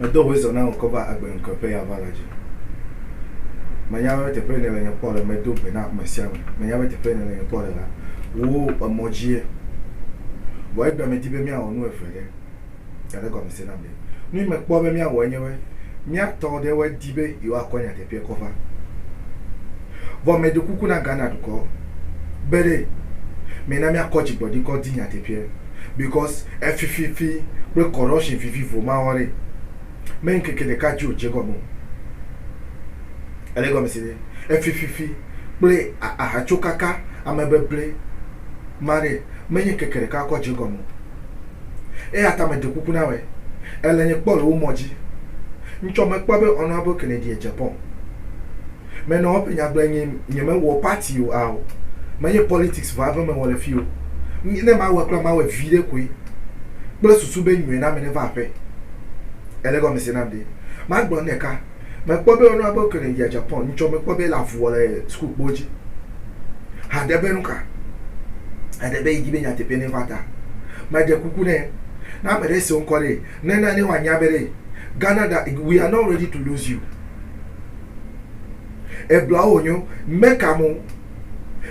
Medo hoe zɔ na ŋkɔ va agbe ŋkɔ ƒe ya va la dzi. Menya be teƒe ne le nye kpɔ le medo gbe na ame sia ame. Menya be teƒe ne le nye kpɔ le la, wò emɔ dzie. Vɔ egbe me di be míawɔ nu eve ɖe. Gade gɔmese nam ɖe. Nu yi me kpɔ be míawɔ enye be, mía tɔ ɖewoe di be yewoa kɔ nyateƒea kɔ va. Vɔ me ɖo kuku na Ghana dukɔ be ɖe, me na mía kɔ dzigbɔɖi kɔ di nyateƒea. because efififi kple corruption vivivo ma wɔa ɖe me ŋkeke ɖeka dzi wòdze gɔme o. Ele gɔme se ɖe? Efififi kple ahatsokaka amebeble ma ɖe menye ŋkeke ɖeka kɔ dze gɔme o. Eya ta meɖe kuku na wɛ, èle nye kpɔ le wo mɔ dzi. Ŋtsɔ mekpɔ be Honourable Kennedy Agyapong. Menɔ eƒe nyagblɔe nye nyemewɔ party o ao menye politics vɔ ave mewɔ le fi o nye ne mawɔe kura mawɔe viɖe koe kple susu be nyɔe na ame neva aƒe ele gɔmese nam ɖe magblɔ nu ɖeka mekpɔ be ɔnua be kene yia Japan ŋtsɔ mekpɔ be ele avu wɔ le school kpo dzi haɖe be nuka eɖe be yidi be nyateƒe ne va ta meɖe kuku ne na ame ɖe se ŋkɔ ɖe ne na ne wanya be ɖe Ghana da we are not ready to lose you Ebla wo nyo, meka mo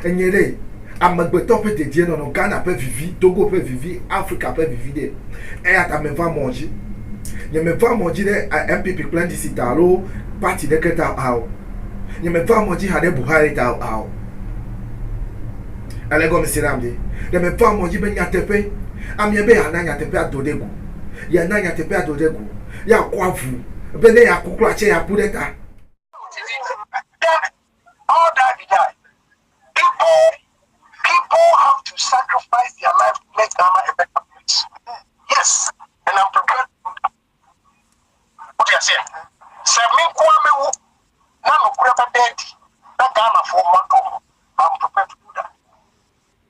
enye ɖe amegbetɔ ƒe dedienɔnɔ, Ghana ƒe vivi, Togo ƒe vivi, Afrika ƒe vivi ɖe. Eya ta meva mɔ dzi. Nyemeva mɔ dzi ɖe NPP kple NDC ta alo parti ɖeke ta ao. Nyemeva mɔ dzi hã ɖe Buhari ta ao. Èle gɔmese nam ɖe? Ɖe meva mɔ dzi be nyateƒe, amea be yeana nyateƒea do ɖe go. Yeana nyateƒea do ɖe go. Yeakɔ avu be ne yeaku kura tsɛ yeaku ɖe ta.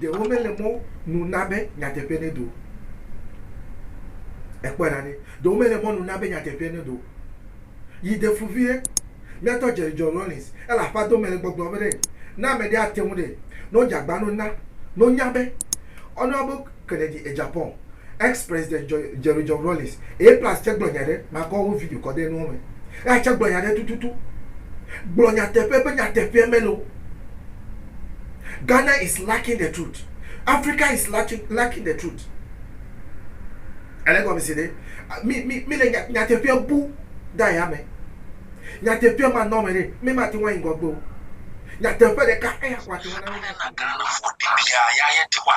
Ɖe womele mɔ nu na be nyateƒe nedo o? Ekpɔe ɖa ɖe. Ɖe womele mɔ nu na be nyateƒe nedo o? Yi de fu viɖe. Míatɔ Jerry John Rawlings, ele aƒea dome le gbɔgblɔm be ɖe ne amɛɖe ate ŋu ɖe, ne wodze agbanu na, ne wonya be, ɔnua be Kennedy e Japan. ex president Jɔ, Jerry John Rawlings, eye plus tse gblɔ nya ɖe, makɔ wo video kɔ ɖe nuɔ me, eya tse gblɔ nya ɖe tututu, gblɔ nyateƒe be nyateƒeɛ mele o. Ghana is lacking the truth, Africa is lacking, lacking the truth. Èle gɔmese ɖe? Mi, mi, mi le nya, nyateƒeɛ bu ɖe ayame. Nyateƒeɛ ma nɔ eme ɖe, mi ma te ŋu ayi ŋgɔgbe o. Nyateƒe ɖeka eya ko ate ŋu ana mi. Alena Ghana vɔ ɖibia ya ye Tewa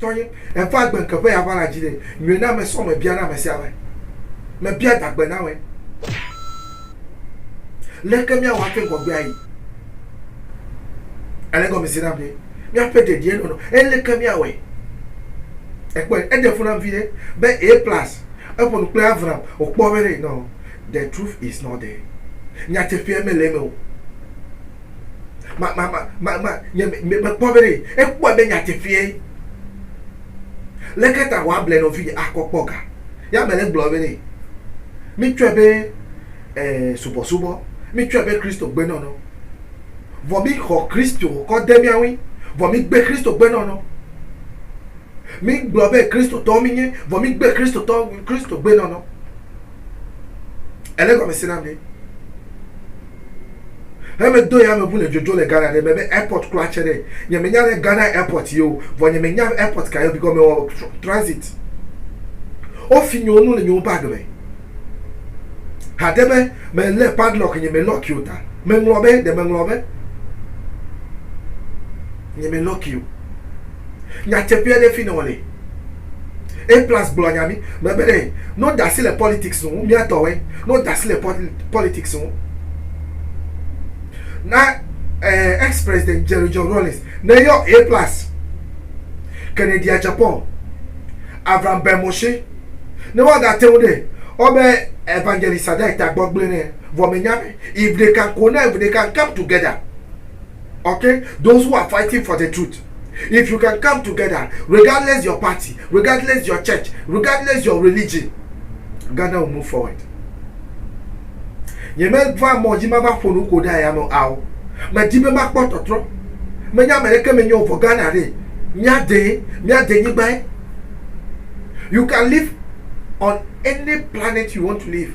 Tɔnye, eƒe agbe ŋke ƒe ya va la dzi ɖe nyɔe na ame sɔ mebia na ame sia ame. Mebia dagbe na ame. Leke mia wɔ ake ŋgɔgbe ayi? Ele egɔme se nam be mia ƒe dedie nɔnɔ. Eleke mia wɔe? Ekpɔe, eɖe fu nam viɖe be A plus. Eƒo nu kple Avram wokpɔ be ɖe nɔ. The truth is not there. Nyateƒea mele eme o. ma ma ma ma ma nye me me kpɔ be ɖe ekpɔe be nyateƒee leke ta wɔ able nɔ vinye akɔ kpɔ ga ya me le gblɔ be ne mi tsɔe be eh, subɔsubɔ mi tsɔe be kristo gbe nɔnɔ vɔ mi xɔ kristo kɔ de mia ŋui vɔ mi gbe kristo gbe nɔnɔ mi gblɔ be kristotɔ mi nye vɔ mi gbe kristotɔ kristo gbe nɔnɔ Ele gɔme se na mi? Heme do ya me ʋu le dzodzo le Ghana ɖe me be airport kura tse ɖe. Nye me nya ɖe Ghana airport ye o. Vɔ nye me nya airport ka ye o bikɔ me wɔ transit. O fi nyewo nu le nyewo bag me. Hade be me le padlock nye me lock yo ta. Me ŋlɔ be ɖe me ŋlɔ be nye me lock yo. Nya tse ƒea ɖe fi ne wole. A plus gblɔ nya mi me be ɖe no dasi le politics ŋu mia tɔwɛ no dasi le politics ŋu na eh, ex president Jerry John Rawlings ne yɔ A plus Kennedy a Japan Avram Ben Moshe ne wa da tewu ɖe ɔ be evangelist ada eta gbɔ gble ne vɔ me nya be if they can connect if they can come together okay those who are fighting for the truth if you can come together regardless your party regardless your church regardless your religion Ghana will move forward nye meva mɔ dzi mava ƒo nu ko ɖe aya me ao medi be makpɔ tɔtrɔ menye ame ɖeke menye o vɔ Ghana ɖe míade míade nyigbae you can live on any planet you want to live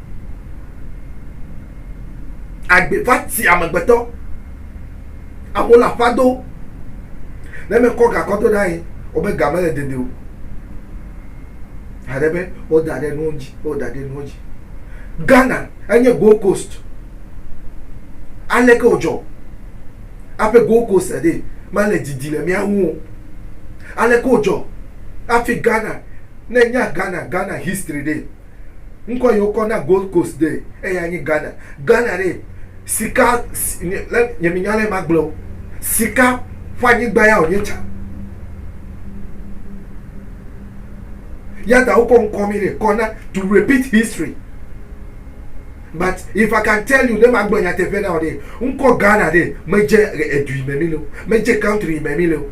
Agbe va ti amegbetɔ. Amewo le aƒa do. Ne me kɔ gakɔ do na ye, o be ga me le dede o. Hã ɖe be o da ɖe nuwo dzi, o da ɖe nuwo dzi. Ghana enye Gold Coast. Ale ke o dzɔ aƒe Gold Coast ɖe ma le didi le mía ŋu o. Ale ke o dzɔ afi Ghana ne nya Ghana, Ghana history ɖe. Ŋkɔ yi wokɔ na Gold Coast ɖe eya nye Ghana. Ghana ɖe sika nye menya lɛ magblɔ o. Sika ƒe anyigba ya wònye tsa. Yata wokɔ ŋkɔ mi ɖe kɔ na to repeat history. But if I can tell you ne magblɔ nyateƒe na wò ɖe ŋkɔ Ghana ɖe medze edu yi me mi le o. Medze country yi me mi le o.